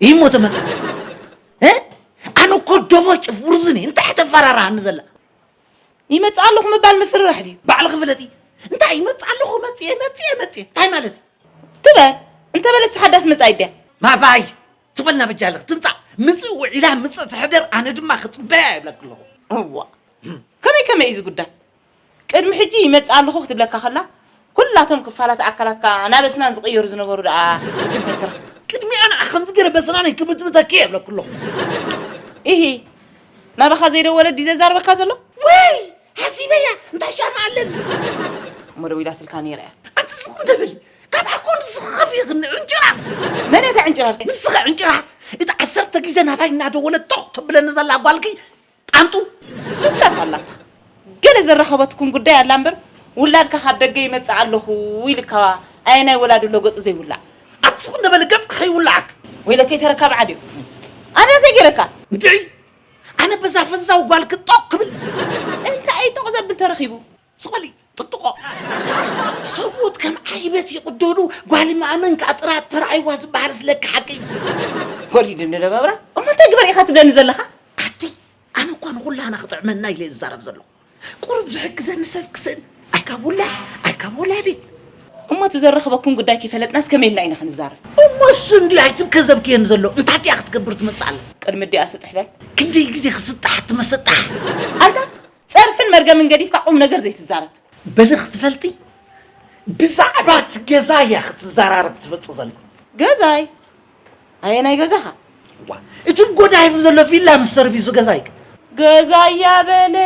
ይህ ሞተ መጽሓፍ እ? ኣነ እኮ ደሞ ጭፍርዝኒ እንታይ ተፈራራሃኒ ዘላ ይመጽእ ኣለኹ ምባል ምፍርራሕ ድዩ ባዕልኺ ፍለጢ እንታይ ይመጽእ ኣለኹ መጽየ መጽየ መጽየ እንታይ ማለት እዩ? ትበል እንተበለት ሓዳስ መጻኢት ድያ ማፋይ ትበልና በጃ ኣለኺ ትምጻእ ምጽእ ውዒላ ምጽእ ትሕደር ኣነ ድማ ክጽበያ ይብለኪ ኣለኹ እዋ ከመይ ከመይ እዩ ዝጉዳይ ቅድሚ ሕጂ ይመጽእ ኣለኹ ክትብለካ ከላ፣ ኩላቶም ክፋላት ኣካላትካ ናብ ኣስናን ዝቕየሩ ዝነበሩ ደኣ ሕጂ እንታይ ተረኽበ? ቅድሚኣ ንዓ ከምዚ ገይረ በስናነይ ክብጥብጠ ኪእ እብለኪ ኣለኹ። ኢሂ ናባኻ ዘይደወለ ዲዩ ዘዛርበካ ዘሎ? ወይ ሓሲበያ እንታይ ሻማ ኣለኒ። እሞ ደዊላትልካ ነይራ እያ። ኣቲ ስቕ እንተ በሊ ካብኣ ኮን ንስኺ ከፊእኽኒ ዕንጭራር። መን እያ እታ ዕንጭራር? ንስኺ ዕንጭራር እታ ዓሰርተ ግዜ ናባይ እናደወለት ቶኽ ተብለኒ ዘላ ጓልኪ ጣንጡ ሱሳስ ኣላታ ገለ ዘራኸበትኩም ጉዳይ ኣላ እምበር ውላድካ ካብ ደገ ይመጽእ ኣለኹ ኢልካ ኣየናይ ወላዲ ኣሎ ገጹ ዘይውላዕ ኣቲ ስቕ እንደበለ ገጽ ከይውላዓክ ወይለከይ ተረካብ ዓድዩ ኣነ እንታይ ገይረካ እንድዒ ኣነ በዛ ፈዛው ጓል ክጦቕ ክብል እንታይ እዩ ጦቕ ዘብል ተረኺቡ ሶሊ ጥጥቖ ሰብኡት ከም ዓይበት ይቕደዱ ጓል ማእመን ከዓ ጥራት ተራእይዋ ዝበሃልስ ለካ ሓቂ እዩ ወሊድ እንደ መብራት እሞ እንታይ ግበር ኢኻ ትብለኒ ዘለኻ ኣቲ ኣነ እኳ ንኹላና ክጥዕመና ኢለ ዝዛረብ ዘለኹ ቁሩብ ዝሕግዘኒ ሰብ ክስእን ኣይካብ ውላድ ኣይካብ ወላዲት እሞ እቲ ዘረኽበኩም ጉዳይ ከይፈለጥናስ ከመይ ኢልና ኢና ክንዛረብ እሞ እሱ እንዲዩ ኣይትብከ ዘብክየኒ ዘሎ እንታይ እያ ክትገብር ትመፅእ ኣላ ቅድሚ እዲኣ ስጥሕ በል ክንደይ ግዜ ክስጣሕ ትመሰጣሕ ኣንታ ጸርፍን መርገምን ገዲፍካ ቁም ነገር ዘይትዛረብ። በሊ ክትፈልጢ ብዛዕባ እቲ ገዛ እያ ክትዘራረብ ትመፅእ ዘላ። ገዛይ ኣየናይ ገዛኻ? ዋ እቲ ጎዳይፍ ዘሎ ቪላ ምስ ሰርቪሱ ገዛይ ከ? ገዛያ በለ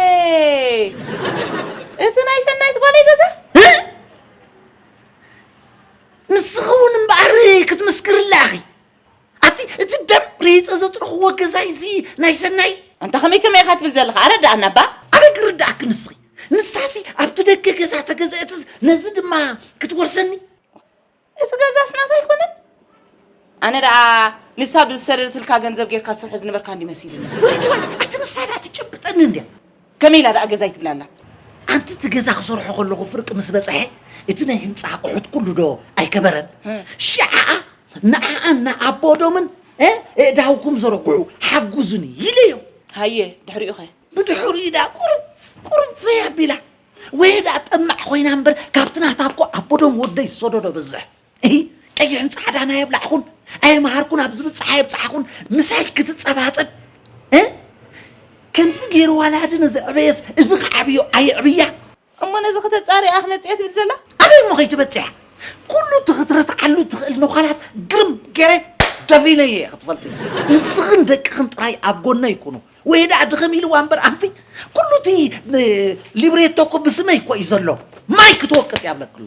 እቲ ናይ ሰናይት ጓለይ ገዛ ንስኺ እውን እምበኣር ክትምስክርላ ኢኺ ኣቲ እቲ ደም ሬፀ ዘጥርኽዎ ገዛይ እዚ ናይ ሰናይ ኣንታ ከመይ ከመይ ኢኻ ትብል ዘለኻ ኣረዳኣና እባ ኣበይ ክርዳኣኪ ንስኺ ንሳሲ ኣብቲ ደገ ገዛ ተገዘእት ነዚ ድማ ክትወርሰኒ እቲ ገዛስ ናታ ኣይኮነን ኣነ ደኣ ንሳ ብዝሰደደትልካ ገንዘብ ጌርካ ትሰርሖ ዝነበርካ እንዲ መሲልኒ ኣቲ ንሳ ደኣ ትጭብጠኒ እንድያ ከመይ ኢላ ደኣ ገዛይ ትብላ ኣላ? ኣንቲ እቲ ገዛ ክሰርሖ ከለኹ ፍርቂ ምስ በጽሐ እቲ ናይ ህንጻ ኣቑሑት ኩሉ ዶ ኣይከበረን? ሽዓኣ ንዓኣን ንኣቦዶምን ኣእዳውኩም ዘርግዑ ሓጉዙኒ ኢለዮም። ሃየ ድሕሪኡ ከ? ብድሕሪኡ ደኣ ቁሩብ ቁሩብ ፈይ ኣቢላ ወየ ደኣ ጠማዕ ኮይና እምበር ካብቲ ናታ እኮ ኣቦዶም ወደይ ዝሰደዶ በዝሕ። እሂ ቀይሕን ጻዕዳን ኣየብላዕኹን ኣየምሃርኩን ኣብ ዝብጽሕ ኣየብጽሓኹን ምሳይ ክትጸባጸብ እ ከምዚ ገይሩ ዋላ ድነ ዘዕበየስ እዚ ክዓብዮ ኣየዕብያ እሞ ነዚ ከተጻሪ እያ ክመጽያ ትብል ዘላ ኣበይ እሞ ከይትበጽሕ ኩሉ እቲ ክትረትዓሉ እትኽእል ነዃላት ግርም ገይረ ደፊነየ እየ ክትፈልጢ ንስኽን ደቅኽን ጥራይ ኣብ ጎነይ ኩኑ ወይ ደኣ ድኽም ኢልዋ እምበር ኣንቲ ኩሉ እቲ ሊብሬቶ እኮ ብስመይ እኮ እዩ ዘሎ ማይ ክትወቅጥ እያ ብለክሎ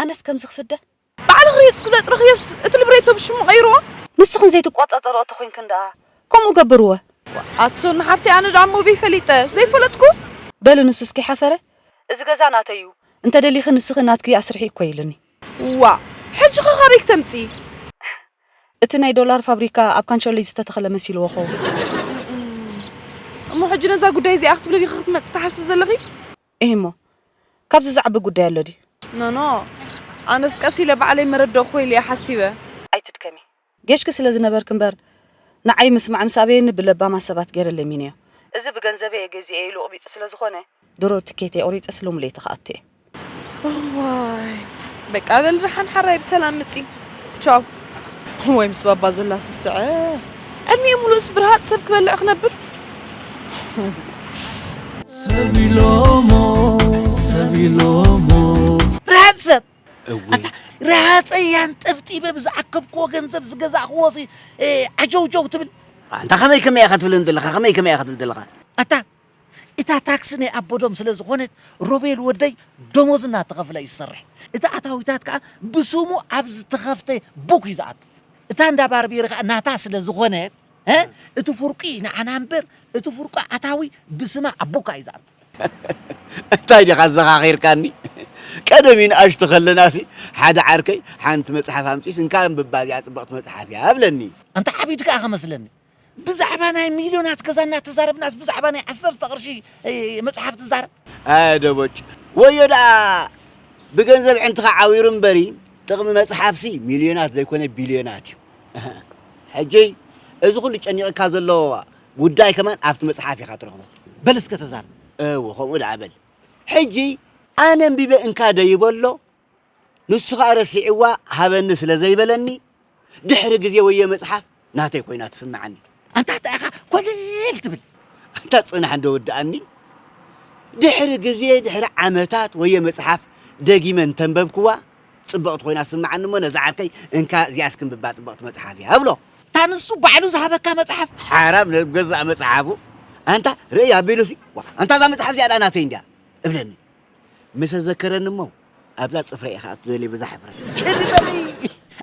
ኣነስ ከምዚ ክፍደ ባዕለ ክሪየጽኩ ዘጽረክዮስ እቲ ልብሬቶ ብሽሙ ቀይርዎ። ንስኽን ዘይትቆጻጸርኦ ተኮንክን ደኣ ከምኡ ገብርወ። ኣቲ ሶሎ ሓፍተይ ኣነ ደኣ ሞብይ ፈሊጠ ዘይፈለጥኩ። በሊ ንሱስ ከይሓፈረ እዚ ገዛ ናተይ ዩ እንተ ደሊኺ ንስኺ ናትኪ ኣስርሒ እኮ ኢሉኒ። ዋእ ሕጂ ከ ካበይ ክተምጺ። እቲ ናይ ዶላር ፋብሪካ ኣብ ካንሸሎይ ዝተተኽለ መሲልዎ ክኸውን። እሞ ሕጂ ነዛ ጉዳይ እዚኣ ክትብሊ ዲኺ ክትመጺ ትሓስቢ ዘለኺ። እሂ'ሞ ካብዚ ዝዓቢ ጉዳይ ኣሎ ድዩ? ኖኖ ኣነስ ቀስ ኢለ ባዕለይ መረደእክዎ ኢለ'የ ሓሲበ። ኣይትድከሚ። ጌሽኪ ስለ ዝነበርኪ እምበር ንዓይ ምስማዕ ምስ ኣበየኒ ብለባማት ሰባት ጌረ ለሚነዮ። እዚ ብገንዘበይ'የ ገዚኤ ኢሉ ቕቢጹ ስለ ዝኾነ። ድሮ ትኬተይ ቑሪጸስ ሎሚ ለይቲ ክኣቱ'የ። እዋይ በቃ በል ደሓን ሓራይ ብሰላም ምጺ። ቻው። ወይ ምስ ባባ ዘላ ስስዐ ዕድሚኡ ሙሉእስ ብርሃፅ ሰብ ክበልዕ ክነብር ሰቢሎሞ ሰቢሎሞ ርሃፅ ሰብ ኣታ ረሃፀያን ጠብጢበ ብዝኣከብክዎ ገንዘብ ዝገዛእክዎ ሲ ዓጀውጀው ትብል ኣንታ ከመይ ከመይ ኢኻ ትብል ዘለኻ ከመይ ከመይ ኢኻ ትብል ዘለኻ ኣታ እታ ታክሲ ናይ ኣቦዶም ስለ ዝኾነት ሮቤል ወደይ ደሞዝ እናተኸፍለ እዩ ዝሰርሕ። እቲ ኣታዊታት ከኣ ብስሙ ኣብ ዝተኸፍተ ቡክ እዩ ዝኣቱ። እታ እንዳ ባርቤሪ ከኣ ናታ ስለ ዝኾነት እቲ ፍርቁ እዩ ንዓና እምበር እቲ ፍርቁ ኣታዊ ብስማ ኣብ ቡካ እዩ ዝኣቱ። እንታይ ዲኻ ኣዘኻኺርካኒ ቀደም ይንኣሽቱ ከለናሲ ሓደ ዓርከይ ሓንቲ መጽሓፍ ኣምጺኡስ እንካ ኣንብባ እዚኣ ጽብቕቲ መጽሓፍ እያ እብለኒ። ኣንታ ዓቢድ ከኣ ከመስለኒ ብዛዕባ ናይ ሚልዮናት ገዛ እናተዛረብናስ ብዛዕባ ናይ ዓሰርተ ቅርሺ መጽሓፍ ትዛረብ? ኣየ ደቦጭ ወዮ ደኣ ብገንዘብ ዕንትኻ ዓዊሩ እምበሪ ጥቕሚ መጽሓፍሲ ሚልዮናት ዘይኮነ ቢልዮናት እዩ። ሕጂ እዚ ኩሉ ጨኒቕካ ዘሎ ጉዳይ ከማን ኣብቲ መጽሓፍ ኢኻ ትረኽቦ። በል እስከ ተዛረብ። እወ ከምኡ ደኣ በል። ሕጂ ኣነ ኣንቢበ እንካ ደይበሎ ንሱ ከኣ ረሲዕዋ ሃበኒ ስለ ዘይበለኒ ድሕሪ ግዜ ወዮ መጽሓፍ ናተይ ኮይና ትስምዓኒ። ኣንታ እንታይ ኢኻ ኮለል ትብል ኣንታ ጽናሕ እንዶ ወድኣኒ። ድሕሪ ግዜ ድሕሪ ዓመታት ወዮ መጽሓፍ ደጊመ እንተንበብክዋ ጽብቕቲ ኮይና ትስምዓኒ እሞ ነዚ ዓርከይ እንካ እዚኣስ ክንብባ ጽብቕቲ መጽሓፍ እያ እብሎ። እታ ንሱ ባዕሉ ዝሃበካ መጽሓፍ። ሓራም ናብ ገዛእ መጽሓፉ ኣንታ ርእይ ኣቢሉሲ ኣንታ እዛ መጽሓፍ እዚኣ ደኣ ናተይ እንድያ እብለኒ። ምሰ ዘከረኒ እሞ ኣብዛ ጽፍረይ ኢኻ ኣቱ ዘልየ በዛ ሕፍረት። ጭድ በሊ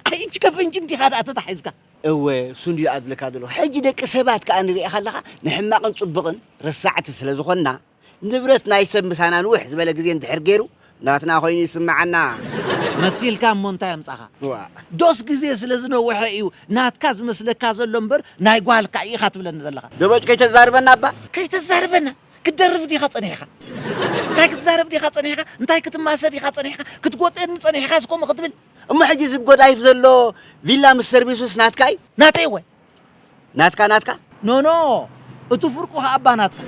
ኣይ እቺ ከፍንጭ እንዲኻ ደኣ ተታሒዝካ። እወ እሱ እንድዩ ደኣ ዝብለካ ዘለኹ ሕጂ ደቂ ሰባት ከኣ ንርእኻ ኣለኻ ንሕማቕን ጽቡቕን ረሳዕቲ ስለ ዝኾንና ንብረት ናይ ሰብ ምሳና ንውሕ ዝበለ ግዜ እንድሕር ጌሩ ናትና ኮይኑ ይስምዓና። መሲልካ እሞ እንታይ ኣምጻኻ ዋእ። ዶስ ግዜ ስለ ዝነውሐ ኢዩ ናትካ ዝመስለካ ዘሎ እምበር ናይ ጓልካ ኢኻ ትብለኒ ዘለኻ። ደበጭ ከይተዛርበና እባ። ከይተዛርበና ክትደርፍ ዲኻ ጸኒሕካ? እንታይ ክትዛረብ ዲኻ ጸኒሕካ? እንታይ ክትማሰ ዲኻ ጸኒሕካ? ክትጎጥየኒ ጸኒሕካስ ከምኡ ክትብል? እሞ ሕጂ እዚ ጎዳይፍ ዘሎ ቪላ ምስ ሰርቪሱስ ናትካ እዩ? ናተይ እወ። ናትካ ናትካ? ኖኖ እቲ ፍርቁ ከኣ እባ ናትካ።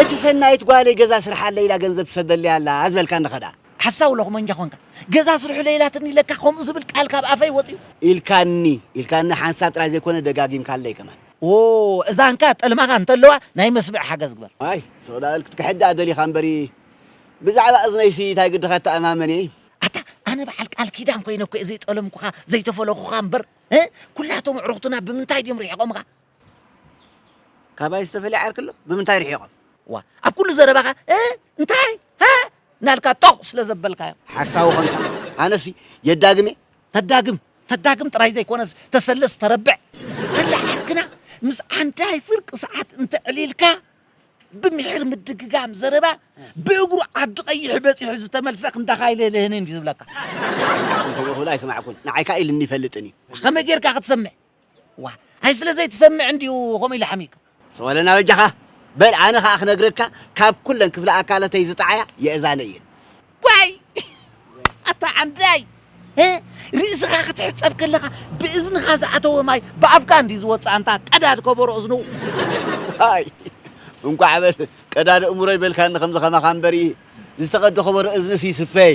እቲ ሰናይት ጓለይ ገዛ ስርሓለይ ኢላ ገንዘብ ትሰደለይ ኣላ ዝበልካኒ ከድኣ? ሓሳዊ ሎኽመኛ ኮንካ። ገዛ ስርሑለይ ኢላትኒ ኢለካ ከምኡ ዝብል ቃል ካብ ኣፈይ ወጺኡ? ኢልካኒ ኢልካኒ ሓንሳብ ጥራይ ዘይኮነ ደጋጊምካለይ ከማን። እዛንካ ጥልማኻ እንተለዋ ናይ መስምዒ ሓገዝ ግበር። ዋይ ሱቅዳበል ክትክሕድ ድኣ ደሊካ እምበሪ ብዛዕባ እዝነይሲ ታይ ግድኻ እተኣማመን እየ። ኣታ ኣነ በዓል ቃል ኪዳን ኮይነ እኮ እየ ዘይጠለምኩኻ ዘይተፈለኹኻ እምበር ኩላቶም ኣዕሩኽትና ብምንታይ ድዮም ርሒቖምኻ? ካባይ ዝተፈለየ ዓርኪ ኣሎ? ብምንታይ ርሒቖም? ዋእ ኣብ ኩሉ ዘረባኻ እንታይ ሃእ እናልካ ጦቕ ስለዘበልካዮም። ሓሳዊ ኮንካ ኣነሲ የዳግም እየ ተዳግም ተዳግም ጥራይ ዘይኮነስ ተሰልስ ተረብዕ ከላ ዓርክና ምስ ዓንዳይ ፍርቂ ሰዓት እንተዕሊልካ ብምሒር ምድግጋም ዘረባ ብእግሩ ዓዲ ቀይሕ በጺሑ ዝተመልሰ ክንዳኻ ኣይልህልህን እንዲ ዝብለካ እንተበኹላ ኣይሰማዕኩን ንዓይ ከኣ ኢልኒ ይፈልጥን እዩ ከመይ ጌርካ ክትሰምዕ ዋእ ኣይ ስለ ዘይትሰምዕ እንድዩ ከምኡ ኢለ ሓሚካ። ሰወለና በጃኻ በል ኣነ ከኣ ክነግረካ ካብ ኩለን ክፍለ ኣካለተይ ዝጠዓያ የእዛነይ እየን። ዋይ ኣታ ዓንዳይ እ ርእስኻ ክትሕጸብ ከለኻ ብእዝንኻ ዝኣተወ ማይ ብኣፍካ እንድዩ ዝወጽእ ኣንታ ቀዳድ ከበሮ እዝኑ። ዋይ እንቋዕ በል ቀዳድ እእምሮይ በልካኒ ከምዚ ከማኻ እምበሪ ዝተቐደ ከበሮ እዝንስ ይስፈይ።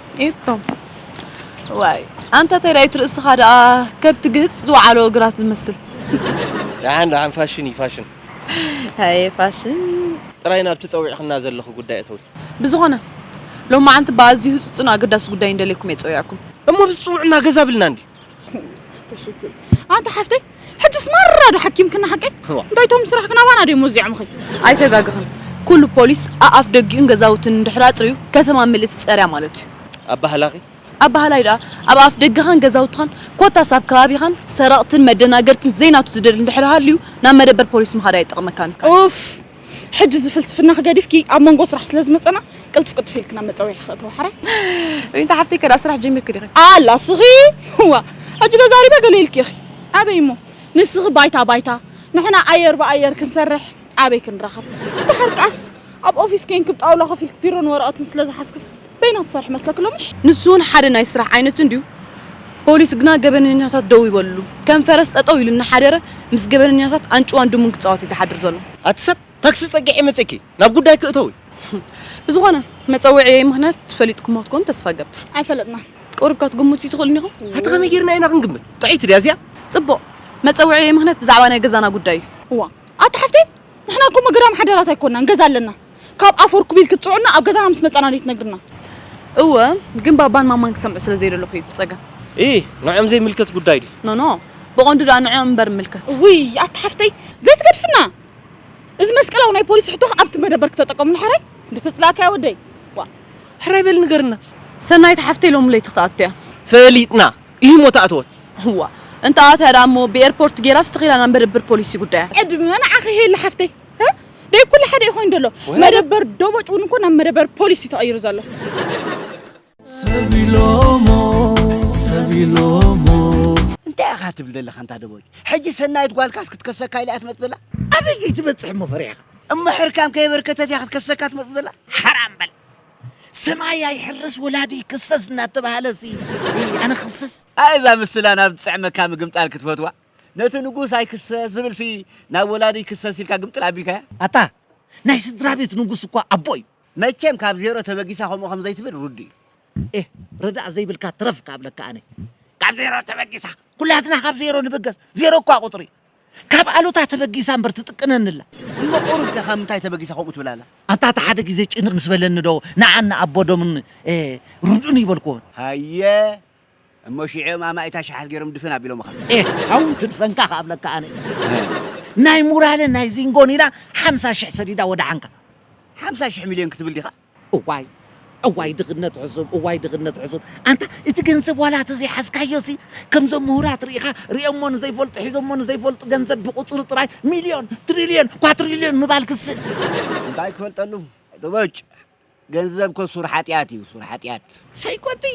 እቶም ዋይ ኣንታ ተዳይት ርእስኻ ደኣ ከብቲ ግህጽ ዝወዓሎ እግራት ዝመስል ደሓን ደሓን ፋሽን እዩ ፋሽን ኣየ ፋሽን ጥራይ ናብቲ ጸዊዕክና ዘለኺ ጉዳይ እተዊ ብዝኾነ ሎማዓንቲ ብኣዝዩ ህጹጽን ኣገዳሲ ጉዳይ እንደልየኩም እየ ጸዊዐኩም እሞ ብዝጽውዑና ገዛ ብልና እንድዩ ተሽግር ኣንታ ሓፍተይ ሕጅስ ማራ ዶ ሓኪምክና ሓቀይ እንታይ ቶም ስራሕ ክናባና ድዮም ወዚዖምኺ ኣይተጋግኽን ኩሉ ፖሊስ ኣኣፍ ደጊኡን ገዛውትን እንድሕር ኣጽርዩ ከተማ ምልእቲ ጸርያ ማለት እዩ ኣባህላኺ ኣባህላይ ድኣ ኣብ ኣፍ ደገኻን ገዛውትኻን ኮታስ ኣብ ከባቢኻን ሰረቕትን መደናገርትን ዘይናቱ ዝደሊ እንድሕር ሃልዩ ናብ መደበር ፖሊስ ምኻድ ኣይጠቕመካን እዩ ኡፍ ሕጂ እዚ ፍልስፍናኺ ገዲፍኪ ኣብ መንጎ ስራሕ ስለ ዝመጸና ቅልጥፍ ቅልጥፍ ኢልኪ ናብ መጸዊዕኺ ክእተዎ ሕራይ። ዊንታ ሓፍተይ ከዳእ ስራሕ ጀሚርኪ ዲኺ? ኣላ እስኺ ዋእ ሕጂ ተዛሪበ ገለ ኢልኪ ኢኺ ኣበይ እሞ ንስኺ ባይታ ባይታ ንሕና ኣየር ብኣየር ክንሰርሕ ኣበይ ክንራኸብ ድሓር ከኣስ ኣብ ኦፊስ ኮይንኪ ብ ጣውላ ኮፍ ኢልኪ ቢሮን ወረቐትን ስለ ዝሓዝክስ በይና ትሰርሕ መስለኪ ሎምሽ? ንሱ እውን ሓደ ናይ ስራሕ ዓይነት እንድዩ፣ ፖሊስ ግና ገበነኛታት ደው ይበልሉ ከም ፈረስ ጠጠው ኢሉ እናሓደረ ምስ ገበነኛታት ኣንጭዋን ድሙን ክፃወት እዩ ዝሓድር ዘሎ። ኣቲ ሰብ ታክሲ ፀጊዐ መፂኪ ናብ ጉዳይኪ እተዊ። ብዝኾነ መፀውዒየይ ምኽንያት ፈሊጥኩሞ ክትኮኑ ተስፋ እገብር። ኣይፈለጥናን። ቁሩብ ከትግምቱ ትኽእሉን ኢኹም። ኣቲ ከመይ ገይርና ኢና ክንግምት ጥዕይቲ ድያ እዚኣ። ፅቡቕ መፀውዒየይ ምኽንያት ብዛዕባ ናይ ገዛና ጉዳይ እዩ። እዋ ኣቲ ሓፍተይ ንሕና እኮ ምግራም ሓዳራት ኣይኮናን ገዛ ኣለና ካብ ኣፍ ወርኩቢል ክትጽዑና ኣብ ገዛና ምስ መጻና ድዩ ትነግርና? እወ ግን ባባን ማማን ክሰምዑ ስለ ዘይደለኹ እዩ ጸገም። እይ ንዕኦም ዘይምልከት ጉዳይ ድዩ? ኖኖ ብቐንዱ ድኣ ንዕኦም እምበር እምልከት። እውይ ኣታ ሓፍተይ ዘይትገድፍና እዚ መስቀላዊ ናይ ፖሊስ ሕቶኽ ኣብቲ መደበር ክተጠቀምሉ ሓራይ እንድተጽላእካያ ወደይ ዋ ሕራይ በል ንገርና። ሰናይት ሓፍተይ ሎሚ ለይቲ ክትኣቱ እያ። ፈሊጥና ኢሂሞ ተኣተወት። እዋ እንተኣትያ ድኣ እሞ ብኤርፖርት ጌራስ ተኺላ ናብ መደበር ፖሊስ እዩ ጉዳያ። ዕድመ ንዓኺ ሄሉ ሓፍተይ። ደይ ኩሉ ሓደ እዩ ኮይኑ ዘሎ መደበር ዶቦጭ እውን እኮ ናብ መደበር ፖሊስ እዩ ተቐይሩ ዘሎ ሰቢሎሞ ሰቢሎሞ እንታይ ኢኻ ትብል ዘለኻ እንታ ደቦጭ ሕጂ ሰናይት ጓልካስ ክትከሰካ ኢላ እያ ትመፅእ ዘላ ኣበይ እዩ ትበፅሕ እሞ ፈሪሕኻ እሞ ሕርካም ከየበርከተት እያ ክትከሰካ ትመፅእ ዘላ ሓራም በል ሰማይ ኣይሕረስ ወላዲ ክሰስ እናተባሃለ ሲ ኣነ ክሰስ ኣይ እዛ ምስላ ናብ ዝጥዕመካ ምግምጣል ክትፈትዋ ነቲ ንጉስ ኣይክሰስ ዝብል ሲ ናብ ወላዲ ይክሰስ ኢልካ ግምጥል ኣቢልካያ። ኣታ ናይ ስድራቤት ንጉስ እኳ ኣቦ እዩ። መቸም ካብ ዜሮ ተበጊሳ ከምኡ ከም ዘይትብል ርዱእ እዩ። ኤህ ረዳእ ዘይብልካ ትረፍ እካ እብለካ ኣነ። ካብ ዜሮ ተበጊሳ ኩላትና ካብ ዜሮ ንብገስ ዜሮ እኳ ቁጽሪ ካብ ኣሉታ ተበጊሳ እምበር ትጥቅነኒ ኣላ። እሞ ቁሩብ ከ ካብ ምንታይ ተበጊሳ ከምኡ ትብል ኣላ። ኣንታ እቲ ሓደ ግዜ ጭንቅ ምስ በለኒ ዶ ንዓን ንኣቦ ዶምን ርዱእን እይበልክዎን። ሃየ እሞ ሽዕኦም ኣማኢት ኣሽሓት ገይሮም ድፍን ኣቢሎምኻ። ኤህ ሓው እንትድፈንካ ከኣ እብለካ ኣነ ናይ ሙራልን ናይ ዚንጎን ኢላ ሓምሳ ሽሕ ሰዲዳ ወደሓንካ። ሓምሳ ሽሕ ሚልዮን ክትብል ዲኻ? እዋይ እዋይ ድኽነት ዕሱብ እዋይ ድኽነት ዕሱብ ኣንታ እቲ ገንዘብ ዋላ ተዘይሓዝካዮሲ ከምዞም ምሁራት ርኢኻ ርኦሞ ንዘይፈልጡ ሒዞሞ ንዘይፈልጡ ገንዘብ ብቁጽሪ ጥራይ ሚልዮን ትሪልዮን ኳትሪልዮን ምባል ክስእ እንታይ ክፈልጠሉ ዶበጭ። ገንዘብ እኮ ሱር ሓጢኣት እዩ ሱር ሓጢኣት። ሳይ ኳቲ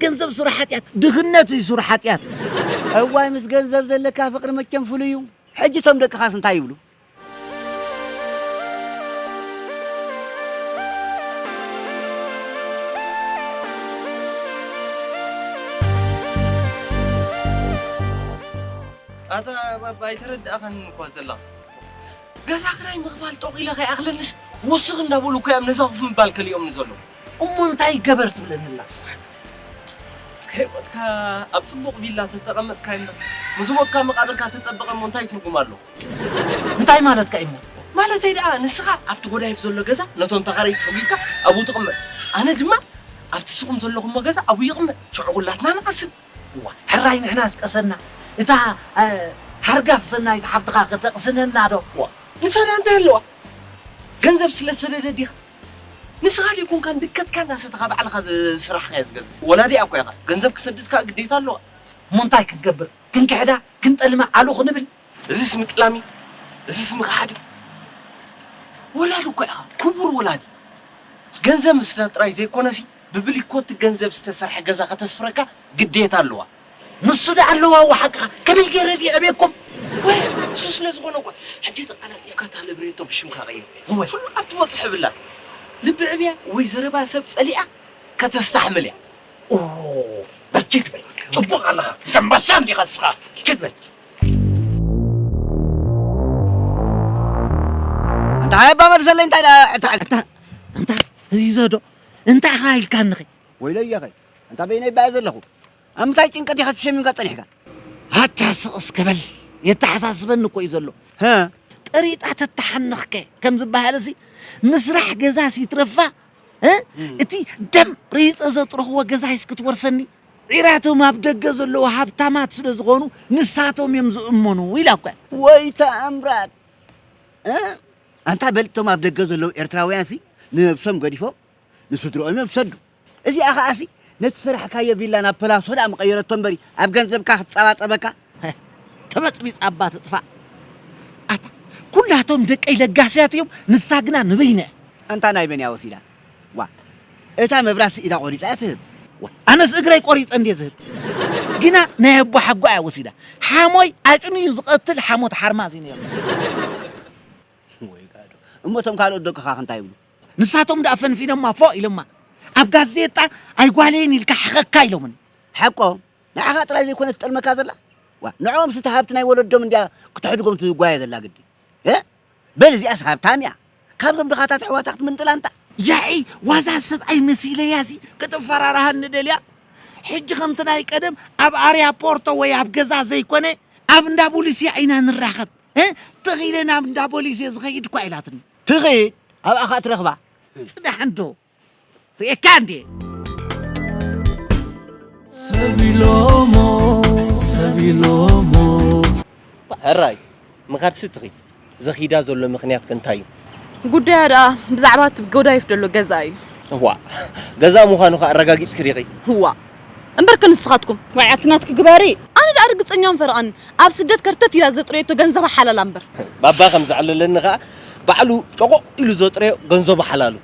ገንዘብ ሱር ሓጢኣት ድኽነት እዩ ሱር ሓጢኣት። እዋይ ምስ ገንዘብ ዘለካ ፍቅሪ መቸም ፍሉይ እዩ። ሕጂ እቶም ደቅኻስ እንታይ ይብሉ? ኣታ ባባ ኣይተረዳእካንን እኳ ዘለኻ። ገዛ ክራይ ምኽፋል ጦቕ ኢለ ከይኣኽለኒስ ወስኽ እንዳበሉ እኮ እዮም ነዛ ኮፍ ምባል ከሊኦምኒ ዘለዉ። እሞ እንታይ ይገበር ትብለኒ ኣላ? ከይሞትካ ኣብ ጽቡቕ ቪላ ተተቐመጥካ እምበር ምስ ሞትካ መቓብርካ ተጸበቐ እሞ እንታይ ትርጉም ኣለዎ? እንታይ ማለትካ እዩ እሞ? ማለተይ ደኣ ንስኻ ኣብቲ ጎዳይፍ ዘሎ ገዛ ነቶም ተኻረይቲ ጸጒግካ ኣብኡ ትቕመጥ፣ ኣነ ድማ ኣብቲ ንስኹም ዘለኹሞ ገዛ ኣብኡ ይቕመጥ፣ ሽዑ ኩላትና ንቐስን። እዋይ ሕራይ ንሕና ዝቀሰና እታ ሓርጋፍ ሰናይት ሓፍትኻ ከ ተቅስነና ዶ? ዋእ ንሳዳ እንታይ ኣለዋ ገንዘብ ስለ ዝሰደደት ዲኻ ንስኻ ደይኮንካን ድከትካ እናሰተኻ ባዕልኻ ዝሰራሕኻዮ ዝገዛ ወላዲኣ እኮ ኢኻ ገንዘብ ክሰድድ ከኣ ግዴታ ኣለዋ እሞ እንታይ ክንገብር ክንክሕዳ ክንጠልማ ዓሉ ክንብል እዚስ ምጥላም እዩ እዚስ ምኽሓድ እዩ ወላዲ እኳ ኢኻ ክቡር ወላዲ ገንዘብ ምስዳ ጥራይ ዘይኮነሲ ብብሊኮት ገንዘብ ዝተሰርሐ ገዛ ከተስፍረካ ግዴታ ኣለዋ ንሱ ዳ ኣለዋ ዋ ሓቅኻ ከመይ ገይረ ድየ ዕብየኩም ወይ እሱ ስለ ዝኾነ እኳ ሕጂ ተቃላጢፍካ እታ ልብሬቶ ብሽምካ ቀይር ወይ ኩሉ ኣብ ትበጽሖ ብላ ልቢ ዕብያ ወይ ዘረባ ሰብ ጸሊኣ ከተስታሕምል እያ ኦ በል ጅግ በል ጽቡቕ ኣለኻ ደምበሳ እንዲኻ እስኻ ጅግ በል ኣንታ ሃይ ኣባ መልሰለይ እንታይ ደኣ እታ እታ ኣንታ ህይዞ ዶ እንታይ ኢኻ ኢልካንኺ ወይለየኸ ኣንታ በይነይ ባየ ዘለኹ ኣብ ምንታይ ጭንቀት ኢኻ ተሸሚምካ ጸኒሕካ ኣታ ስቕ እስከ በል የተሓሳስበኒ እኮ እዩ ዘሎ ሀ ጥሪጣ ተተሓንኽከ ከም ዝበሃልሲ ምስራሕ ገዛስ ይትረፋ እ? እቲ ደም ረይፀ ዘጥረኽዎ ገዛይስ ክትወርሰኒ ዒራቶም ኣብ ደገ ዘለዉ ሃብታማት ስለ ዝኾኑ ንሳቶም እዮም ዝእመኑ ኢላ እኳ ወይ ተኣምራት ኣንታ በል እቶም ኣብ ደገ ዘለዉ ኤርትራውያን ሲ ንነብሶም ገዲፎም ንስድርኦም እዮም ዝሰዱ እዚኣ ከዓ ሲ ነቲ ሰራሕካዮ ቪላ ናብ ፐላሶ ደኣ ምቐየረቶ እምበሪ ኣብ ገንዘብካ ክትጸባጸበካ ተበጽቢጽ ኣባ ትጥፋእ ኣታ ኩላቶም ደቀይ ለጋስያት እዮም ንሳ ግና ንበይነ ኣንታ ናይ መን እያ ወሲዳ ዋእ እታ መብራት ስኢዳ ቆሪጻ እያ ትህብ። ዋእ ኣነስ እግረይ ቆሪጸ እንድየ ዝህብ። ግና ናይ ኣቦ ሓጎኣ እያ ወሲዳ። ሓሞይ ኣጭንዩ ዝቐትል ሓሞት ሓርማዝ እዩ ነይሩ። ወይ ጋዶ እሞ እቶም ካልኦት ደቅኻ ከ እንታይ ይብሉ? ንሳቶም ደኣ ፈንፊኖማ ፎእ ኢሎማ። ኣብ ጋዜጣ ኣይጓለይን ኢልካ ሕኸካ ኢሎምኒ። ሓቆም ንዓኻ ጥራይ ዘይኮነት ትጠልመካ ዘላ ዋእ ንዕኦምስ እታ ሃብቲ ናይ ወለዶም እንድያ ክተሕድጎም ትጓየ ዘላ ግዲ። በል እዚኣስ ሃብታም እያ ካብዞም ድኻታት ኣሕዋታ ክትምንጥል ኣንታ። ያዒ ዋዛ ሰብኣይ መሲለያሲ ከተፈራርሃኒ ደልያ ሕጂ ከምቲ ናይ ቀደም ኣብ ኣርያ ፖርቶ ወይ ኣብ ገዛ ዘይኮነ ኣብ እንዳ ቦሊስያ ኢና ንራኸብ እ ትኽ ኢለ ናብ እንዳ ቦሊስ እየ ዝኸይድ እኳ ኢላትኒ። ትኺድ ኣብኣ ኸኣ ትረኽባ። ጽናሕ እንዶ ርእካ እንዴ ሰቢሎሞ ሰቢሎሞ ሕራይ ምኻድሲ ትኺ ዘኺዳ ዘሎ ምኽንያት ከንታይ እዩ? ጉዳያ ደኣ ብዛዕባ እቲ ጎዳይፍ ዘሎ ገዛ እዩ። እዋእ ገዛ ምዃኑ ከ ኣረጋጊጽኪ ዲኺ? እዋእ እምበርከ ንስኻትኩም። ዋይ ኣቲ ናትኪ ግበሪ። ኣነ ደኣ ርግጸኛውን ፈረቓን ኣብ ስደት ከርተት ኢላ ዘጥረየቶ ገንዘባ ሓላላ እምበር። ባባ ከም ዘዕለለኒ ከኣ ባዕሉ ጮቖቕ ኢሉ ዘጥረዮ ገንዘቡ ሓላሉ።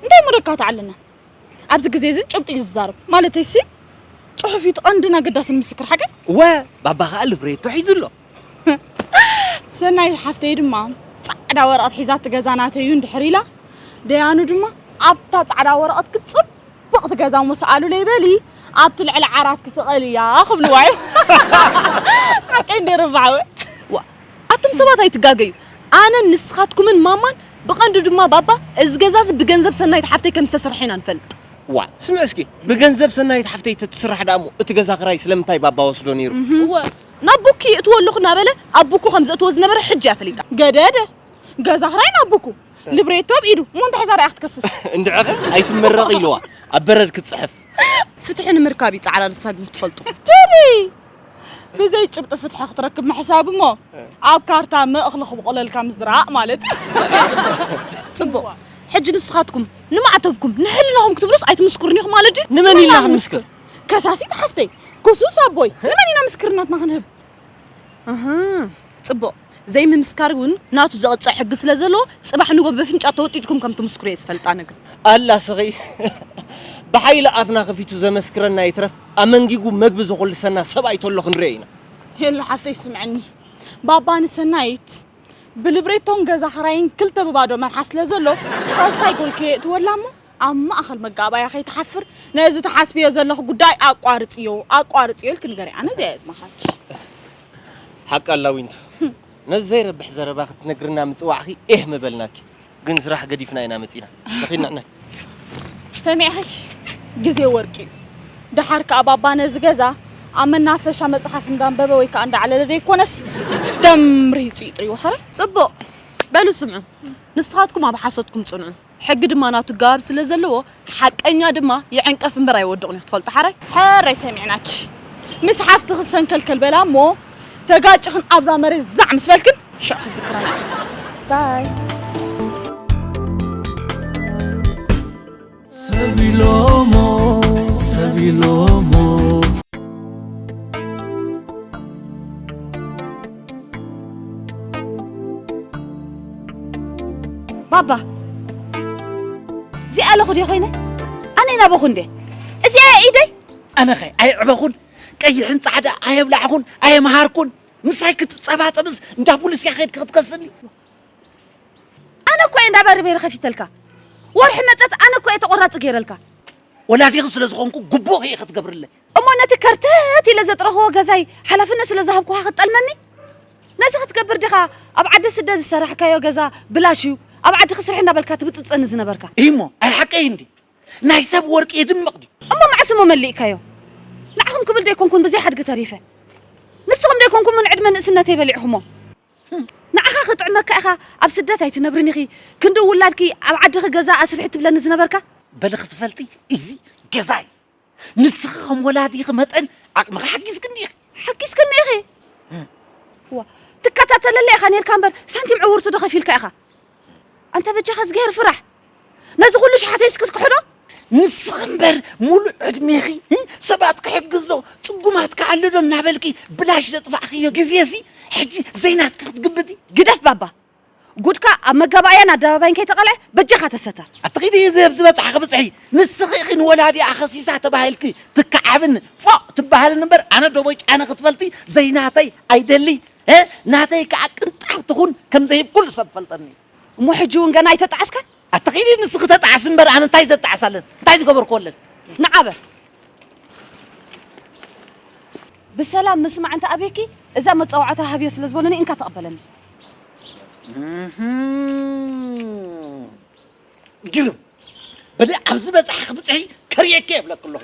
እንታይ እሞ ደካ ተዓለና ኣብዚ ግዜ እዚ ጭብጢ እዩ ዝዛረብ ማለተይሲ ጽሑፍ እዩ እቲ ቀንድን ኣገዳስን ምስክር ሓቀይ። እወ ባባ ከኣ ልብሬቶ ሒዙ ኣሎ። ሰናይት ሓፍተይ ድማ ጻዕዳ ወረቐት ሒዛ እቲ ገዛ ናተይ እዩ እንድሕር ኢላ ደያኑ ድማ ኣብታ ጻዕዳ ወረቐት ክጽብቕ እቲ ገዛ እሞ ሰኣሉለይ በሊ ኣብቲ ልዕሊ ዓራት ክስቐል እያ ክብልዋ እዩ ሓቀይ እንደ ርባዕወ ኣቱም ሰባት ኣይትጋገዩ ኣነ ንስኻትኩምን ማማን ብቐንዱ ድማ ባባ እዚ ገዛ እዚ ብገንዘብ ሰናይት ሓፍተይ ከም ዝተስርሐ ኢና ንፈልጥ ዋ ስምዕ እስኪ ብገንዘብ ሰናይት ሓፍተይ ተትስራሕ ደኣ እሞ እቲ ገዛ ክራይ ስለምንታይ ባባ ወስዶ ነይሩ እወ ናብ ቡኪ ይእትዎ ኣለኹ እናበለ ኣብ ቡኩ ከም ዘእትዎ ዝነበረ ሕጂ እያ ፈሊጣ። ገደደ ገዛ ክራይ ናብ ቡኩ፣ ልብሬቶ ኣብ ኢዱ፣ እሞ እንታይ ሒዛ ደኣ እያ ክትከስስ? እንድዕኺ ኣይትመረቒ ኢልዋ ኣብ በረድ ክትጽሕፍ። ፍትሒ ንምርካብ እዩ ጻዕራ ንሳ ግን ክትፈልጦ። ቴዲ ብዘይ ጭብጢ ፍትሒ ክትረክብ ምሕሳብ እሞ ኣብ ካርታ መ እኽሊ ክብቑለልካ ምዝራእ ማለት እዩ። ጽቡቕ ሕጂ ንስኻትኩም ንማዕተብኩም ንሕልናኹም ክትብሉስ ኣይትምስክሩን ኢኹም ማለት ድዩ? ንመን ኢልና ክንምስክር? ከሳሲት ሓፍተይ ጎሱስ ኣቦይ ንመን ኢና ምስክርናትና ክንህብ ፅቡቕ ዘይምምስካር እውን ናቱ ዘቕፅዕ ሕጊ ስለ ዘለዎ ፅባሕ ንጎ በፍንጫ ተወጢጥኩም ከም ትምስክሩ እየ ዝፈልጣ ነግር ኣላ ስኺ ብሓይሊ ኣፍና ከፊቱ ዘመስክረና ይትረፍ ኣመንጊጉ መግቢ ዘኹልሰና ሰብኣይ ተሎ ክንሪኦ ኢና የሎ ሓፍተይ ስምዐኒ ባባ ንሰናይት ብልብሬቶን ገዛ ኸራይን ክልተ ብባዶ መርሓ ስለ ዘሎ ሳልሳይ ጎልከ የእትወላ እሞ ኣብ ማእኸል መጋባእያ ከይትሓፍር ነዚ ትሓስብዮ ዘለኺ ጉዳይ ኣቋርፅዮ ኣቋርፅዮ ኢልኪ ንገርያ ኣነ እዚኣ እየ ዝመኽረኪ። ሓቂ ኣላ ዊንቱ ነዚ ዘይረብሕ ዘረባ ክትነግርና ምፅዋዕኺ ኤህ ምበልናኪ ግን ስራሕ ገዲፍና ኢና መፂና ንኺድ ንሕና ሰሚዕኺ ግዜ ወርቂ እዩ ደሓር ከዓ ባባ ነዚ ገዛ ኣብ መናፈሻ መፅሓፍ እንዳንበበ ወይ ከዓ እንዳዕለለ ዘይኮነስ ደምሪፁ ይጥርዩ ሕረ ፅቡቕ በሉ ስምዑ ንስኻትኩም ኣብ ሓሶትኩም ፅንዑ ሕጊ ድማ ናቱ ጋር ስለ ዘለዎ ሓቀኛ ድማ ይዕንቀፍ እምበር ኣይወድቕን እዩ ክትፈልጡ ሓራይ። ሕራይ ሰሚዕናኪ ምስ ሓፍትኺ ሰንከልከል በላ እሞ ተጋጭኽን ኣብዛ መሬት ዛዕ ምስ በልክን ሽዑ ክትዝክረና ኢኺ ባይ። ሰብ ኢሎሞ ሰብ ኢሎሞ ባባ እዚኣ ኣለኹ ድየ ኮይነ ኣነ ናበኹ እንደ እዚኣ ኢደይ ኣነኸ ኣይዕበኹን ቀይሕን ጻዕዳ ኣየብላዕኹን ኣየምሃርኩን ምሳይ ክትጸባጸብስ እንዳ ፖሊስ እያ ከድኪ ክትከስኒ ኣነ እኮ እየ እንዳ በርቤሪ ከፊተልካ ወርሒ መጸት ኣነ እኮ እየ ተቆራፂ ገይረልካ ወላዲኺ ስለ ዝኾንኩ ግቡእ እየ ክትገብርለይ እሞ ነቲ ከርተት ኢለ ዘጥረኽዎ ገዛይ ሓላፍነት ስለ ዝሃብኩኻ ክትጠልመኒ? ነዚ ክትገብር ዲኻ ኣብ ዓዲ ስደት ዝሰራሕካዮ ገዛ ብላሽ እዩ፣ ኣብ ዓድኺ ስርሒ እናበልካ ትብጽብጸኒ ዝነበርካ? እሞ ኣይ ሓቀይ እንድዩ፣ ናይ ሰብ ወርቂ የድምቕ ድዩ? እሞ መዓስ እሞ መሊእካዮ? ንዓኹም ክብል ዶ ኣይኮንኩን ብዘይ ሓድጊ ተሪፈ? ንስኹም ዶ ኣይኮንኩምን ዕድመ ንእስነተይ በሊዕኹሞ? ንዓኻ ክጥዕመካ ኢኻ ኣብ ስደት ኣይትነብርን ኢኺ፣ ክንዲ ውላድኪ ኣብ ዓድኺ ገዛ ኣስርሒ ትብለኒ ዝነበርካ? በሊ ክትፈልጢ እዚ ገዛይ ንስኺ ከም ወላዲኺ መጠን ዓቕምኺ ሓጊዝክኒ ኢኺ። ሓጊዝክኒ ኢኺ? ዋ ትከታተለለይ ኢኻ ነርካ እምበር ሳንቲም ዕውርቲ ዶ ከፊልካ ኢኻ? ኣንታ በጃኻ እዝግሄር ፍራሕ ነዚ ኩሉ ሸሓተይ እስኪ ትክሕዶ ንስኺ እምበር ሙሉእ ዕድሜኺ ሰባት ክሕግዝ ዶ ፅጉማት ክኣሉ ዶ እናበልኪ ብላሽ ዘጥፋእኽዮ ግዜ እዚ ሕጂ ዘይናትኪ ክትግምቲ ግደፍ ባባ ጉድካ ኣብ መጋባእያን ኣደባባይን ከይተቐልዐ በጃኻ ተሰተር። ኣቲ ኪዲ እዚ ኣብ ዝበጽሓኺ ብጽሒ ንስኺ ኢኺ ንወላዲኣ ከሲሳ ተባሂልኪ ትከዓብን ፎእ ትበሃልን እምበር ኣነ ዶቦይ ጫነ ክትፈልጢ ዘይናተይ ኣይደልይ ናተይ ከኣ ቅንጣብ ትኹን ከምዘይህብ ኩሉ ሰብ ይፈልጠኒ እዩ። እሞ ሕጂ እውን ገና ኣይተጣዕስካን? ኣታ ኪዲ ንስኺ ተጣዓሲ እምበር ኣነ እንታይ ዘጣዕስ ኣለን እንታይ ዝገበርክዎ ኣለን ንዓ በል ብሰላም ምስማዕ እንተ ኣብየኪ እዛ መጻዋዕታ ሃብዮ ስለ ዝበሉኒ እንካ ተቐበለኒ ግርም በለ ኣብዚ በጽሓ ክብጽሒ ከርእየኪ የብለኪ ኣለኹ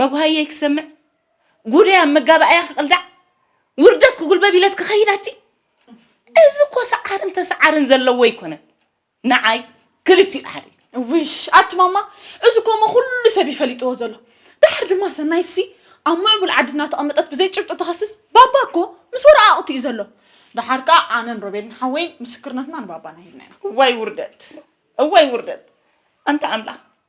መጉሃየይ ክሰምዕ ጉደይ ኣብ መጋባእያ ክቕልዳዕ ውርደት ክጉልበብ ኢለስ ክኸይድ ኣቲ እዚ እኮ ሰዓርን ተሰዓርን ዘለዎ ኣይኮነን ንዓይ ክልቲኡ ሓደ ውሽ ኣቲ ማማ እዚ ኮሞ ኩሉ ሰብ ይፈሊጥዎ ዘሎ ድሓር ድማ ሰናይትሲ ኣብ ምዕቡል ዓዲ እናተቐመጠት ብዘይ ጭብጢ ተኸስስ ባባ እኮ ምስ ወረቓቕቲ እዩ ዘሎ ድሓር ከዓ ኣነን ሮቤልን ሓወይን ምስክርነትና ንባባና ሂብና ኢና እዋይ ውርደት እዋይ ውርደት ኣንታ ኣምላኽ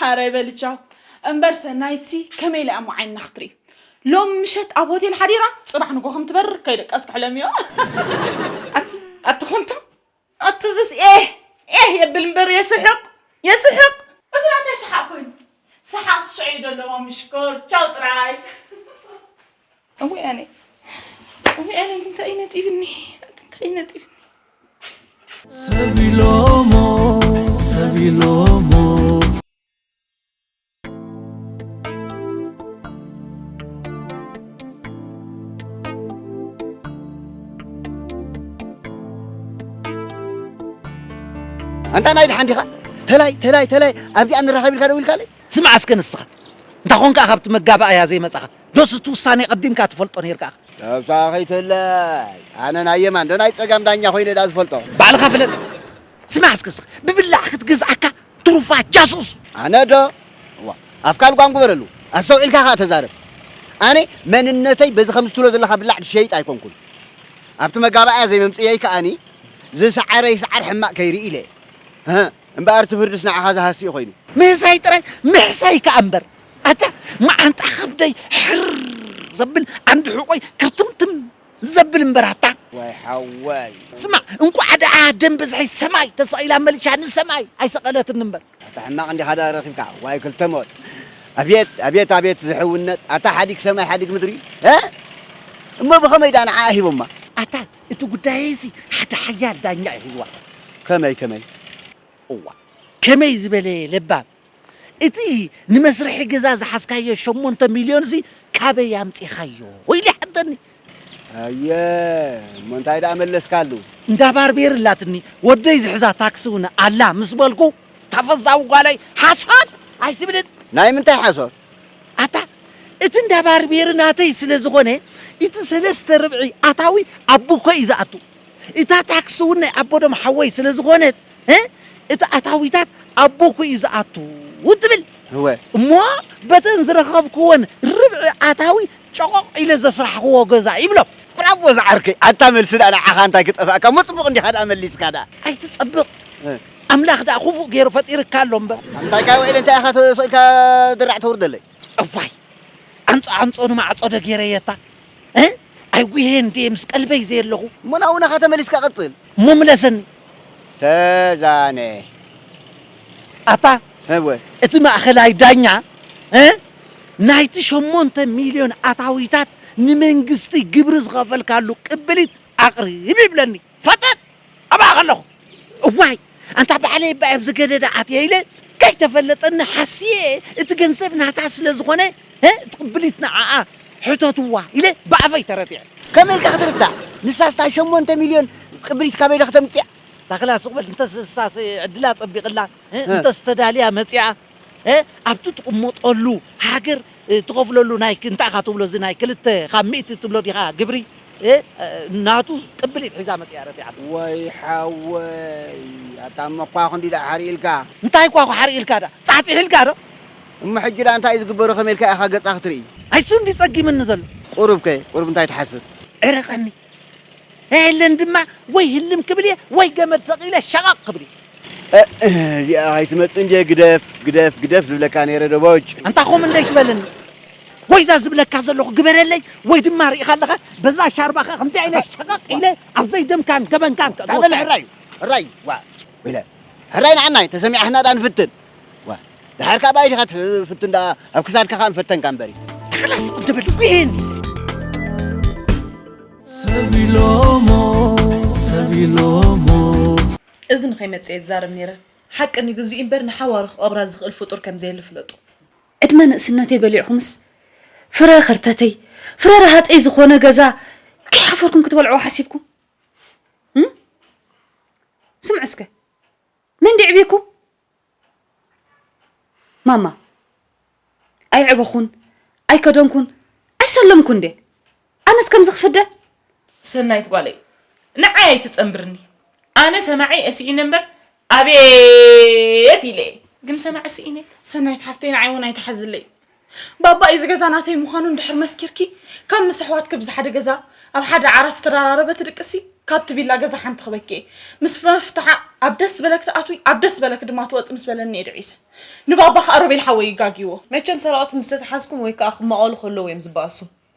ሐራይ በሊ ቻው እምበር ሰናይትሲ ከመይ ኢላ እሞ ዓይንና ክትርኢ ሎም ምሸት ኣብ ሆቴል ሓዲራ ፅባሕ ንጎ ከም ትበርር ከይደቀስ ክሕለም እዮ ኣቲ ኣቲ ኮንቶ ኣቲ ዝስ ኤህ ኤህ የብል እምበር የስሕቅ የስሕቅ እዚ ናተይ ሰሓቅ ኮይኑ ሰሓቅ ስሸዑ እዩ ደለዎ ምሽኮር ቻው ጥራይ እወይ ኣነ እወይ ኣነ እንታይ እዩ ነጢብኒ እንታይ እዩ ነጢብኒ ሰቢሎሞ ሰቢሎሞ ኣንታ ናይ ድሓን ዲኻ ተላይ ተላይ ተላይ ኣብዚኣ ንራኸብ ኢልካ ደው ኢልካለይ ስምዓ እስከ ንስኻ እንታ ኾንካ ካብቲ መጋባእያ ዘይመጻኻ ዶስ እቲ ውሳኔ ቀዲምካ ትፈልጦ ኔርካ እኻ? ነብሳ ከይትህላይ ኣነ ናይ የማን ዶ ናይ ጸጋም ዳኛ ኮይነ ድኣ ዝፈልጦ። ባዕልኻ ፍለጥ ስማዕ እስከ እስኻ ብብላዕ ክትግዝኣካ ትሩፋት ጃሱስ። ኣነ ዶ እዋ ኣፍካ ልጓም ግበረሉ ኣስተውዒልካ ከኣ ተዛረብ ኣነ መንነተይ በዚ ከምዚ ትብሎ ዘለኻ ብላዕ ዝሸይጥ ኣይኮንኩን ኣብቲ መጋባእያ ዘይመምጽእየይ ከኣኒ ዝሰዓረ ይስዓር ሕማቅ ከይርኢ ኢለ እህ እምበኣር እቲ ፍርድስ ንዓኻ ዝሃሲ እዩ ኮይኑ። ምህሳይ ጥራይ ምሕሳይ ከኣ እምበር ኣታ መዓንጣ ከብደይ ሕርር ዘብል ዓንዲ ሕቆይ ክርትምትም ዘብል እምበር ኣታ። ዋይ ሓወይ። ስማዕ እንቋዕ ደኣ ደም ብዝሒ ሰማይ ተሰቒላ መሊሻ ንሰማይ ኣይሰቐለትኒ እምበር። ኣታ ሕማቕ እንዲኻ ደኣ ረኺብካ ዋይ ክልተ ሞት ኣብየት ኣብየት ኣብየት ዝሕውነት ኣታ ሓዲግ ሰማይ ሓዲግ ምድሪ ሀ እሞ ብኸመይ ደኣ ንዓኣ ሂቦማ። ኣታ እቲ ጉዳየይሲ ሓደ ሓያል ዳኛ እዩ ሒዝዋ። ከመይ ከመይ። እዋ ከመይ ዝበለ ለባም። እቲ ንመስርሒ ገዛ ዝሓዝካዮ ሸሞንተ ሚልዮን እዚ ካበይ ኣምጺኻዮ ኢሉ ይሓተኒ። ኣየ እሞ እንታይ ደኣ መለስካሉ? እንዳ ባርቤር ኣላትኒ ወደይ ዝሕዛ ታክሲ እውን ኣላ ምስ በልኩ ተፈዛዊ ጓለይ ሓሶት ኣይትብልን ናይ ምንታይ ሓሶት? ኣታ እቲ እንዳ ባርቤር ናተይ ስለ ዝኾነ እቲ ሰለስተ ርብዒ ኣታዊ ኣቡኮ እዩ ዝኣቱ እታ ታክሲ እውን ናይ ኣቦዶም ሓወይ ስለ ዝኾነት እ እቲ ኣታዊታት ኣቦ እኮ እዩ ዝኣቱ ትብል እወ እሞ በተን ዝረኸብክወን ርብዒ ኣታዊ ጨቖቕ ኢለ ዘስራሕክዎ ገዛ ይብሎም። ብራቮ ዝዓርከይ ኣታ መልሲ ድኣ ንዓኻ እንታይ ክጠፍኣካ እሞ ጽቡቕ እንዲኻ ድኣ መሊስካ ድኣ። ኣይትጸብቕ ኣምላኽ ድኣ ኩፉእ ገይሩ ፈጢርካ ኣሎ እምበር። ኣንታይ ካይ ውዒለ እንታይ ኢኻ ስእልካ ድራዕ ተውርደለይ። እዋይ ዓንጾ ዓንጾ ንማዕጾ ዶ ገይረየታ። ኣይጉሄ እንዴ ምስ ቀልበይ ዘየለኹ እሞ ናብኡ ናኻ ተመሊስካ ቀጽል እሞ ምለሰኒ ተዛነ ኣታ እወ እቲ ማእኸላይ ዳኛ ናይቲ ሸሞንተ ሚልዮን ኣታዊታት ንመንግስቲ ግብሪ ዝኸፈልካሉ ቅብሊት ኣቕርብ ይብለኒ። ፈጠጥ ኣብኣ ከለኹ እዋይ ኣንታ ባዕለይ እባ ኣብዚ ገደዳ ኣትየ ኢለ ከይተፈለጠኒ ሓስየ እቲ ገንዘብ ናታ ስለ ዝኾነ እቲ ቅብሊት ንዓኣ ሕተትዋ ኢለ ብኣፈይ ተረቲዐ። ከመይ ኢልካ ክትርዳእ ንሳስ እታ ሸሞንተ ሚልዮን ቅብሊት ካበይ ኢለ ክተምጽኣ? ታኽላ ሱቕ በል እንተስ ንሳስ ዕድላ ጸቢቕላ እንተስ ተዳልያ መጺኣ እ ኣብቲ ትቕመጠሉ ሃገር ትኸፍለሉ ናይ ክ- እንታይ ኢኻ ትብሎ እዚ ናይ ክልተ ካብ ሚእቲ ትብሎ ዲኻ ግብሪ እ ናቱ ቅብሊት ሒዛ መጺኣ ረቲዓቶ። ወይ ሓወይ ኣታ እሞ እኳ ክንዲ ደኣ ሓርኢ ኢልካ። እንታይ እኳ ሓርኢ ኢልካ ደኣ ጻሕጺሕ ኢልካ ዶ? እሞ ሕጂ ደኣ እንታይ እዩ ዝግበሮ ከመይ ኢልካ ኢኻ ገጻ ክትርኢ? ኣይ እሱ እንድዩ ጸጊምኒ ዘሎ። ቁሩብ ከ ቁሩብ እንታይ ትሓስብ? ዕረቐኒ ኣየለን ድማ ወይ ህልም ክብል እየ ወይ ገመድ ሰቒለ ሸቐቕ ክብል እየ። እዚኣ ኣይትመጽእን ድየ ግደፍ ግደፍ ግደፍ ዝብለካ ነይረ ደቦጭ። ኣንታ ከምኡ እንደይትበለኒ ወይ እዛ ዝብለካ ዘለኹ ግበረለይ ወይ ድማ ርኢኻ ኣለኻ በዛ ሻርባኻ ከምዚኣ ኢለ ሸቐቕ ኢለ ኣብ ዘይደምካን ገበንካን ከእትወካ። ታበል ሕራይ ሕራይ ዋ ኢለ ሕራይ ንዓናይ ተሰሚዓትና ድኣ ንፍትን ዋ ድሓር ካብ ኣይ ዲኻ ትፍትን ደኣ ኣብ ክሳድካ ከኣ ምፈተንካ እምበሪ ተኽላስ ቅድብል ዊን ሰቢሎሞ ሰቢሎሞ እዚ ንኸይመጽእ እየ ዝዛረብ ነይረ ሓቂ ንግዚኡ እምበር ንሓዋሩ ክቐብራ ዝኽእል ፍጡር ከም ዘየለ ፍለጡ። ዕድመ ንእስነተይ በሊዕኹምስ ፍረ ከርተተይ ፍረ ረሃጸይ ዝኾነ ገዛ ከይሓፈርኩም ክትበልዕዎ ሓሲብኩም ስምዑ እስከ መን ዲዕቢኩም ማማ ኣይዕበኹን ኣይከደንኩን ኣይሰለምኩን ድየ ኣነስ ከምዚ ክፍደ ሰናይት ጓለይ ንዓይ ኣይትጸንብርኒ ኣነ ሰማዒ እሲኢነ እምበር ኣቤት ኢለ እየ ግን ሰማዒ ስኢነ ሰናይት ሓፍተይ ንዓይ እውን ኣይትሓዝለይ ባባ ኢዚ ገዛ ናተይ ምዃኑ እንድሕር መስኪርኪ ካብ ምስ ኣሕዋትኪ ብዝሓደ ገዛ ኣብ ሓደ ዓራት ትራራረበ ትድቅሲ ካብቲ ቪላ ገዛ ሓንቲ ክበኪ እየ ምስ መፍትሓ ኣብ ደስ ዝበለኪ ትኣትዊ ኣብ ደስ ዝበለኪ ድማ ትወፂ ምስ በለኒ እየ ድዒሰ ንባባ ከዓ ሮቤል ሓወይ እዩ ጋግይዎ መቸም ሰረቅቲ ምስ ተታሓዝኩም ወይ ከዓ ክማቀሉ ከለዉ እዮም ዝበኣሱ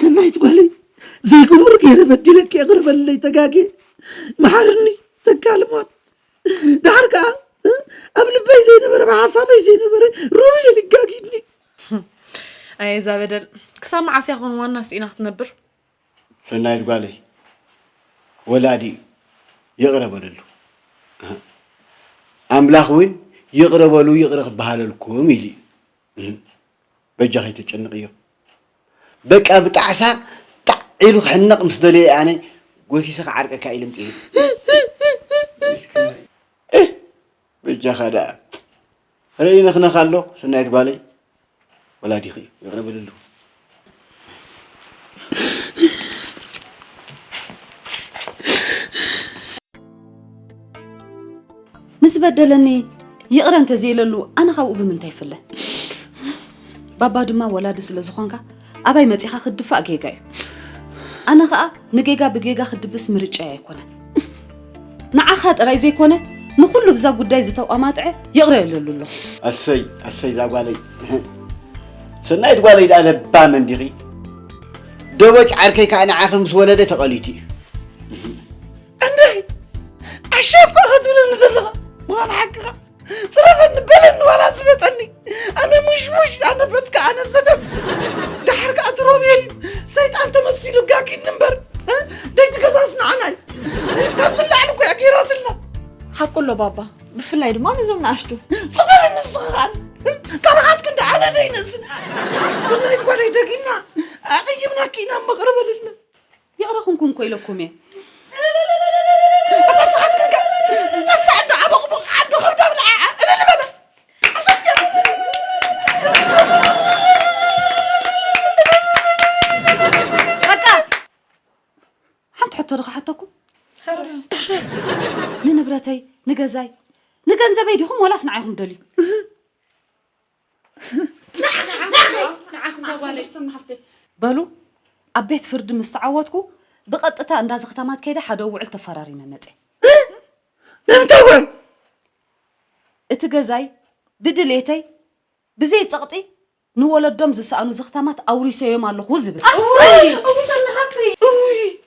ሰናይት ጓለይ ዘይግቡር ገይረ በዲለኪ የቕርበለይ ተጋጌ መሓርኒ ተካል ሞት ድሓር ከዓ ኣብ ልበይ ዘይነበረ ብሓሳበይ ዘይነበረ ሩብ እየ ልጋጊድኒ ኣየ እዛ በደል ክሳብ መዓስ እያ ኮን ዋና ስኢና ክትነብር ሰናይት ጓለይ ወላዲ እዩ ይቕረ በለሉ ኣምላኽ እውን ይቕረ በሉ ይቕረ ክበሃለልኩም ኢሉ እዩ በጃ ከይተጨንቕ እዮም በቃ ብጣዕሳ ጣዕ ኢሉ ክሕነቕ ምስ ደለየ ኣነ ጎሲሰ ክዓርቀካ ኢለ ምፅእ በጃኻ ደኣ ሕረ ይነኽነኽ ኣሎ ሰናይት ጓለይ ወላዲኺ እዩ ይቕረ በልሉ ምስ በደለኒ ይቕረ እንተዘይለሉ ኣነ ካብኡ ብምንታይ ይፍለ ባባ ድማ ወላዲ ስለ ዝኾንካ ኣባይ መጺኻ ክትድፋእ ጌጋ እዩ ኣነ ኸኣ ንጌጋ ብጌጋ ክድብስ ምርጫይ ኣይኮነን ንዓኻ ጥራይ ዘይኮነ ንኹሉ ብዛ ጉዳይ ዝተቋማጥዐ ይቕረ የለሉ ኣሎ ኣሰይ ኣሰይ እዛ ጓለይ ሰናይት ጓለይ ድኣ ለባም እንዲኺ ደቦጭ ዓርከይ ከዓ ንዓኺ ምስ ወለደ ተቐሊቱ እዩ እንድይ ኣሻብካ ክትብለኒ ዘለኻ ምዃን ሓቅኻ ፅረፈኒ በለኒ ዋላ ዝበጠኒ ኣነ ሙሽሙሽ ኣነ በትካ ኣነ ሰነፍ ድሓር ከዓ ትሮብየል እዩ ሰይጣን ተመሲሉ ጋጊኒ እምበር እ? ደይቲ ገዛስ ንዓና እዩ ካብዚ ንላዕሊ እኮ እያ ገይራትልና ሓቁ ኣሎ ባባ ብፍላይ ድማ ነዞም ንኣሽቱ ዝበለ ንስኻን ካብርዓትክ እንደ ኣነ ደይነስን ትናይት ጓደይ ደጊምና ኣቕይምናኪ ኢና መቕርበልና ይቕረ ኩንኩም እኮ ኢለኩም እየ እተስኻትክን ከ ተሳዕ እንዶ ኣቦቕቡቕ ዓዶ ከብዳብ ንዓኣ እልል በለ ኣሰኛ በቃ ሓንቲ ሕቶ ዶ ክሓተኩም ንንብረተይ ንገዛይ ንገንዘበይ ዲኹም ወላስ ንዓይኹም ደልዩ በሉ ኣብ ቤት ፍርዲ ምስ ተዓወትኩ ብቐጥታ እንዳ ዘኽታማት ከይደ ሓደ ውዕል ተፈራሪመ መፀ ንምንታይ ውዕል እቲ ገዛይ ብድሌተይ ብዘይ ፀቕጢ ንወለዶም ዝሰኣኑ ዘኽታማት ኣውሪሰዮም ኣለኹ ዝብል